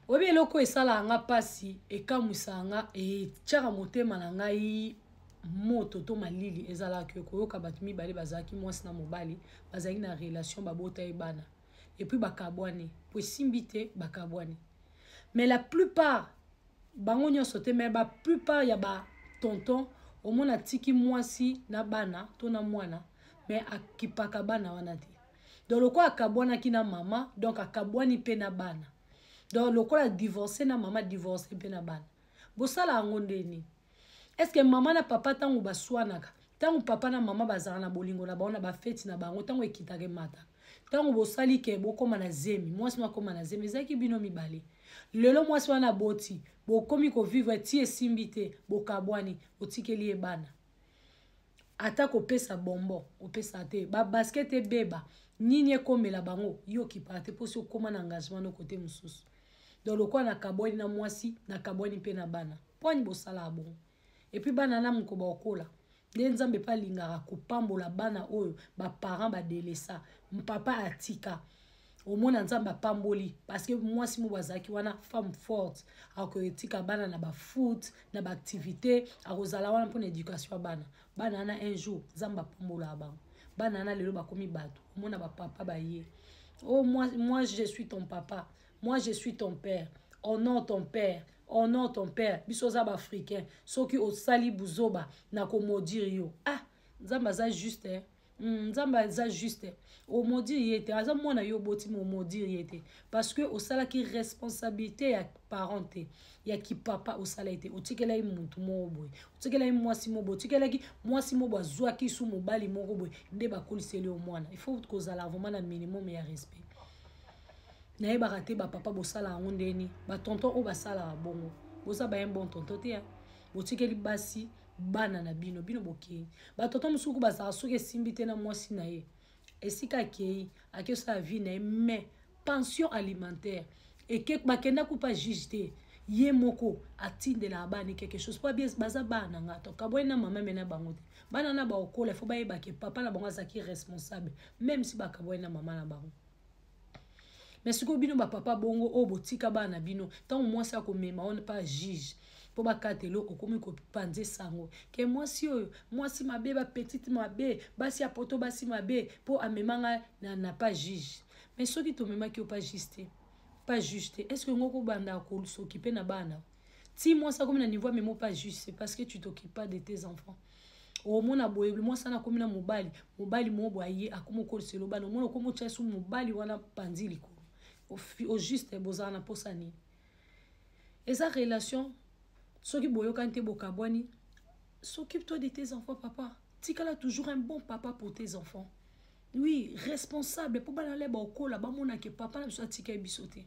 oyebi eloko oyo esalaka nga mpasi ekamwisaka nga etyaka motema na ngai moto to malili ezalaka yo koyoka bato mibale bazalaki mwasi na mobali bazalaki na relation babota ye bana epuis bakabwani po esimbi te bakabwani mais la plupart bango nyonso te mais ba plupart ya ba tonton omona atiki mwasi na bana to na mwana mais akipaka bana wana te donc lokola akabwanaki na mama donc akabwani mpe na bana donc lokola divorce na mama divorce mpe na bana bosala yango nde nini estce mama na papa ntango baswanaka ntango papa na mama bazalaka na bolingo na bango na bafeti na bango ntango ekitaka emataka ntango bosali ke bokóma na zemi mwasi no akóma na zemi ezalaki bino mibale lelo mwasi wana aboti bokomi kovivre ti esimbi te bokabwani otikeli ye bana ata kopesa bombo opesa te babasket ebeba nini ekomela bango yo okipaka te mposi okóma na engagement no kote mosusu donc lokola nakabwani na mwasi nakabwani mpe na bana mpo ani bosalaka bongo epuis bana na mokoba okola nde nzambe mpe alingaka kopambola bana oyo baparent badelesa mpapa atika omona nzambe apamboli parceke mwasi moko azalaki wana femme forte akotika bana na bafoot na baactivité akozala wana mpona éducation ya bana bana wana un jour nzambe apambolaka bango bana wana lelo bakomi bato omona bapapa baye o oh, moi, moi je suis ton papa moi je suis ton père honore ton père honore ton père biso oza baafricain soki osali buzoba na komodire yo ah nzambe aza juste eh? Mm, nzambe aza juste omodire ye te aza mwana yo oboti ma omodire ye te parce que osalaki responsabilité ya parent te ya kipapa osala ye te otikelaki motu moko boye otikelaki mwasi moko boye otikelaki mwasi moko boye azwaki su mobali moko boye nde bakoliseli yo mwana il faut kozala vraiment na minimum ya respect nayebaka te bapapa bosala yango ndeni batonton oyo basalaka bongo boza baye bon tonton te botikeli basi bana na bino bino bokei bato ata mosuku bazala soki esimbi te na mwasi na ye esika akei akei osala vie na ye mais pension alimentaire eke bakenda kupa juge te ye moko atindelaka bana quelque chose po baza bana na ngai tokabwani na mama me na bango te bana na baokola fo bayebake papa na bango azalaki responsable meme si bakabwani na mama na bango mais sikoyo bino bapapa bongo oyo botika bana na bino ntango mwasi akomema one pa juge mpo bakatelo okomi kopanza esango ke mwasi oyo mwasi mabe bapetite mabe basi ya poto basi mabe mpo amema ngai na, na pa juge mais soki tomemaki yo pa juge te pa juge te estce yango okobanda kosokipe na bana ti mwasi akomi na niveau amemo pas juste parce que tu t'occupe pas de tes enfants omona boye mwasi wana akomi na mobali mobali moo boye aye akomi okolisa elobani omona okomi otya su mobali wana panzi likolo au juste bozala na mposa nini eza relation soki boyokani te bokabwani s'occupe toi de tes enfants papa tikala toujours un bon papa pour tes enfants oui responsable mpo bana leba okola bamona ke papa na biso atika ye biso te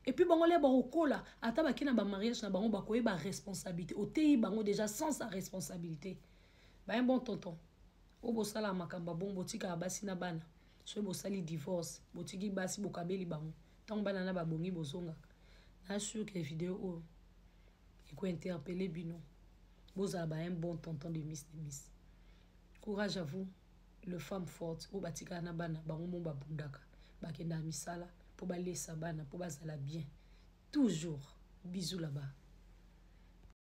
epuis bango lia bakokola ata bake na bamariage na bango bakoyeba responsabilité oteyi bango déjà sans sa responsabilité baye bon tonton oyo bosalaka makambo abongo botikaka basi na bana soki bosali divorce botiki basi bokabeli bango ntango bana na babongi bozongaka na sur ke video oyo ekointerpele bino bozala baye bon tonton de miss de miss courage à vous le femme forte oyo batikala na bana bango mo babundaka bakendaka misala mpo balesa bana mpo bazala bien toujours bizu laba